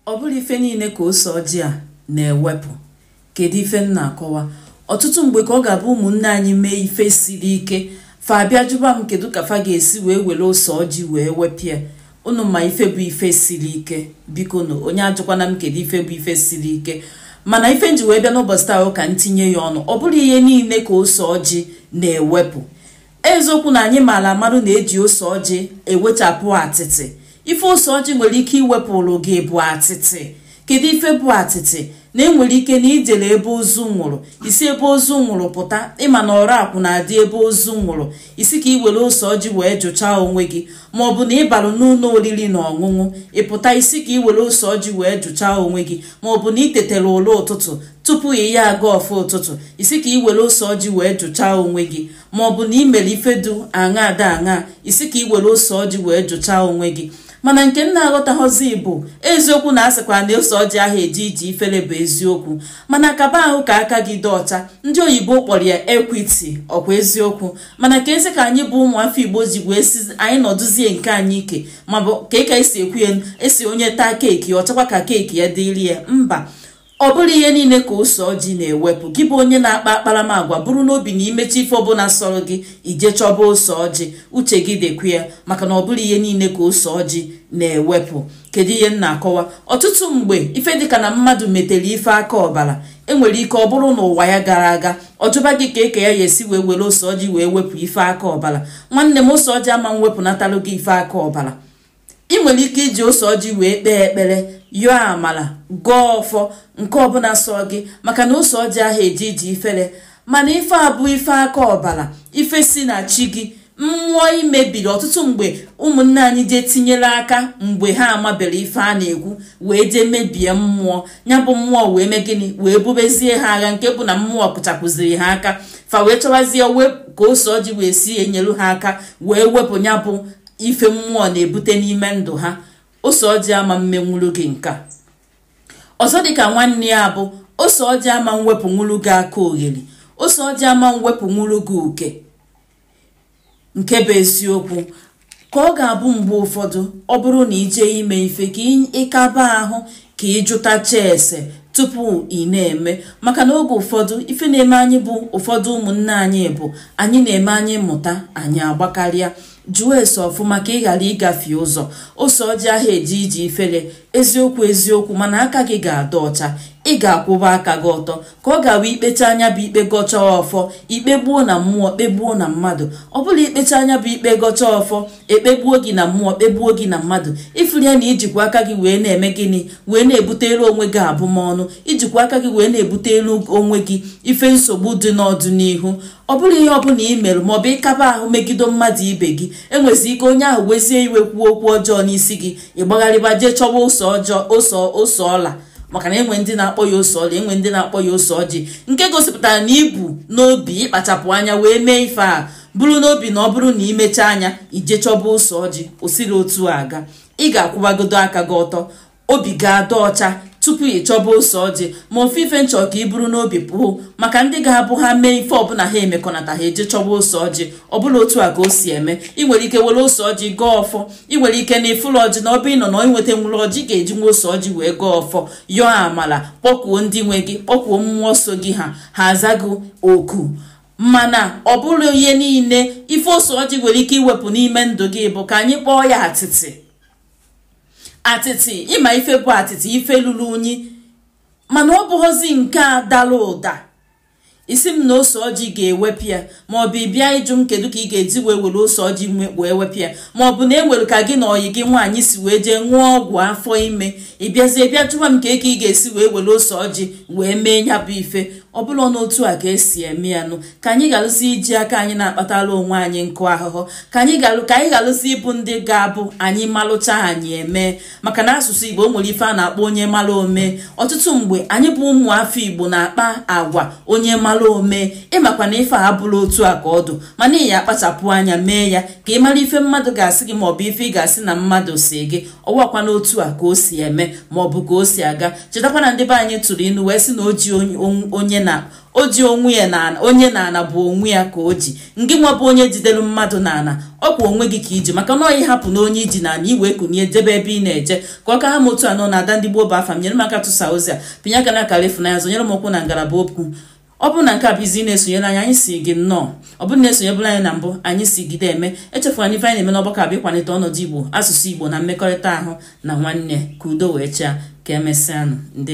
ọ bụrọ ife niile ka ose ọjị a na-ewepụ kedu ife m na-akọwa ọtụtụ mgbe ka ọ ga-abụ ụmụnne anyị mee ife siri ike fa abịa jụba m kedu ka fa ga-esi wee were ose ọjị wee wepụ ya unu ma ife bụ ife siri ike biko na onye ajụkwana m kedu ife bụ ife siri ike mana ife m ji wee bịa n'ụbọchị taa ka m tinye ya ọnụ ọ bụrọ ihe niile ka ose ọjị na-ewepụ eziokwu na anyị maara amara na e ji ose ọjị ewechapụ atịtị ife ose ọjị nwere ike iwepụrụ gị bụ atịtị kedu ife bụ atịtị na enwere ike na i jele ebe ozu nwụrụ i si ebe ozu nwụrụ pụta ị ma na ọrakwụ na-adị ebe ozu nwụrụ ị sị ka ị were ose ọjị wee jụchaa onwe gị ma ọ bụ na ị balụ n'ụlọ oriri na ọṅụṅụ ị pụta ị sị ka ị were ose ọjị wee jụchaa onwe gị ma ọ bụ na ị tetara ụla ụtụtụ tupu ị ya-agọ ọfọ ụtụtụ ị sị ka ị were ose ọjị wee jụchaa onwe gị ma ọ bụ na ị mere ife du aṅa ada aṅa ị sị ka ị were ose ọjị wee jụchaa onwe gị mana nke m na-aghọtaghọzi bụ eziokwu na a sịkwa na ose ọjị aha eje ije ifere bụ eziokwu mana kaba ahụ ka aka gị dị ọcha ndị oyibo kpọrọ ya equity ọ kwa eziokwu mana ka e si ka anyị bụ ụmụafọ igbo ji wee sị anyị nọdụzie nke anyị ike maọbụ ka ị ka esi ekwu ya a sị onye taa cake ọ chọkwa ka cake ya dịrị ya mba ọ bụrọ ihe niile ka ose ọjị na-ewepụ gị bụ onye na-akpa akparamagwa buru n'obi na i mechaa ife ọbụla sọrọ gị i jee chọba ose ọjị uche gị dịkwa ya maka na ọ bụrọ ihe niile ka ose ọjị na-ewepụ kedu ihe m na-akọwa ọtụtụ mgbe ife dịka na mmadụ metere ife aka ọbara enwere ike ọ bụrụ n'ụwa ya gara aga ọ jụba gị kee ka ya ya-esi wee were ose ọjị wee wepụ ife aka ọbara nwanne m ose ọjị ama mwepụnatalụ gị ife aka ọbara ị nwere ike iji ose ọjị wee kpee ekpere yọọ amala gọọ ọfọ nke ọbụla sọ gị maka na ose ọjị aha eje ije ifere mana ife a bụ ife aka ọbara ife si na chi gị mmụọ i mebiri ọtụtụ mgbe ụmụnne anyị jee tinyere aka mgbe ha amabere ife a na-ekwu wee jee mebie mmụọ ya bụ mmụọ wee mee gịnị wee bubezie ha agha nke bụ na mmụọ pụchapụziri ha aka fa wee chọwazie ka ose ọjị wee si enyelu ha aka wee wepụ ya bụ ife mmụọ na-ebute n'ime ndụ ha ose ọjị ama mmenwuru gị nke ọzọ dịka nwanne ya bụ ose ọjị ama mwepụnwuru gị aka ogheri ose ọjị ama mwepụnwuru gị uke nke bụ eziokwu ka ọ ga-abụ mgbe ụfọdụ ọ bụrụ na ị je ime ife ka ị kaba ahụ ka ị jụtacha ese tupu ị na-eme maka na oge ụfọdụ ife na-eme anyị bụ ụfọdụ ụmụnne anyị bụ anyị na-eme anyị mụta anyị agbakarịa jụọ ese ọfụma ka ị ghara ịgafe ụzọ ose ọjị aha eje ije ifere eziokwu eziokwu mana aka gị ga-adị ọcha ị ga-akwụba aka gị ọtọ ka ọ ga-abụ ikpechaa nya bụ ikpe gọcha ọfọ ikpegbuo na mmụọ kpegbuo na mmadụ ọ bụla ikpechaa nya bụ ikpe gọcha ọfọ ekpegbuo gị na mmụọ kpegbuo gị na mmadụ ị fụlụ ya na ijikwa aka gị wee na-eme gịnị wee na-ebutere onwe gị abụmọnụ ijikwa aka gị wee na-ebutere onwe gị ife nsogbu dị n'ọdịnihu ọ bụrụ ihe ọbụla ị mere maọbụ ịkaba ahụ megido mmadụ ibe gị enwezi ike onye ahụ wezie iwe kwuo okwu ọjọọ n'isi gị ịgbagharịba jee chọwa ose ọla maka na enwe ndị na-akpọ ya ose ọla enwe ndị na-akpọ ya ose ọjị nke gosipụtara na ibu n'obi ịkpachapụ anya wee mee ife a buru n'obi na ọ bụrụ na imechaa nya ije chọba ose ọjị o sirọ otu a aga ị ga-akwụbagodo aka gị ọtọ obi ga-adị ọcha tupu ị chọba ose ọjị ma ofu ife m chọ ka ị buru n'obi pụọ maka ndị ga-abụ ha mee ife ọbụla ha emekọnata ha eje chọba ose ọjị ọbụla otu a ka o si eme ị nwere ike were ose ọjị gọọ ọfọ ị nwere ike na ịfụlụ ọjị maọbụ ịnọ na inweta nwụrụ ọjị ga-eji nwa ose ọjị wee gọọ ọfọ yọọ amala kpọkuo ndị nwe gị kpọkuo mmụọ so gị ha aza gị oku mana ọ bụla ihe niile ife ose ọjị nwere ike iwepụ n'ime ndụ gị bụ ka anyị kpọọ ya atịtị atịtị ịma ife bụ atịtị ife lulu unyi mana ọ bụghọzi nke a dara ụda ị sị m na ose ọjị ga-ewepụ ya ma ọ bụ ịbịa ịjụ m kedu ka ị ga-eji wee were ose ọjị wee wepụ ya ma ọ bụ na enwere ka gị na ọyị gị nwaanyị si wee jee ṅụọ ọgwụ afọ ime ịbịazie bịa jụwa m kee ka ị ga-esi wee were ose ọjị wee mee nya bụ ife ọ bụla n'otu a ka esi eme ya nụ ka anyị ghalụzi iji aka anyị na-akpatara onwe anyị nkụ ahụhụ ka anyị ghalụzi ịbụ ndị ga-abụ anyị malụcha anyị eme maka na asụsụ igbo nwere ife a na-akpọ onye mara ome ọtụtụ mgbe anyị bụ ụmụ afọ igbo na-akpa agwa onye mara ome ịmakwa na ife a bụrọ otu a ka ọ dụ mana ị ya akpachapụ anya mee ya ka ị mara ife mmadụ ga-asị gị maọbụ ife ị ga-asị na mmadụ si gị ọwakwa n'otu a ka o si eme maọbụ ka o si aga chetakwa na ndị be anyị tụrụ inu wee sị na o ji onye na o ji onwe ya na onye n'ana bụ onwe ya ka o ji ngị nwa bụ onye jidere mmadụ n'ana ọ kwa onwe gị ka iji maka na ọ ị hapụ na onye iji n'ana ị wee kunie jebe ebe ị na-eje ka ọ ka ha m otu a nụ na ada ndị gboo bụ afa m nyere m aka tụsa ozi a pịnye aka na akara ịfụnanya zọnyere m ụkwụ na ngalaba okwu ọ bụrụ na nke a bụ izizi na-esonyere anyị anyị sị gị nnọọ ọ bụrụ na isonyebula anyị na mbụ anyị sị jide eme echefula na ife anyị na-eme n'ọgbakọ a bụ ịkwalite ọnọdụ igbo asụsụ igbo na mmekọrịta ahụ na nwanne ka udo wee chaa ka emesịanụ ndị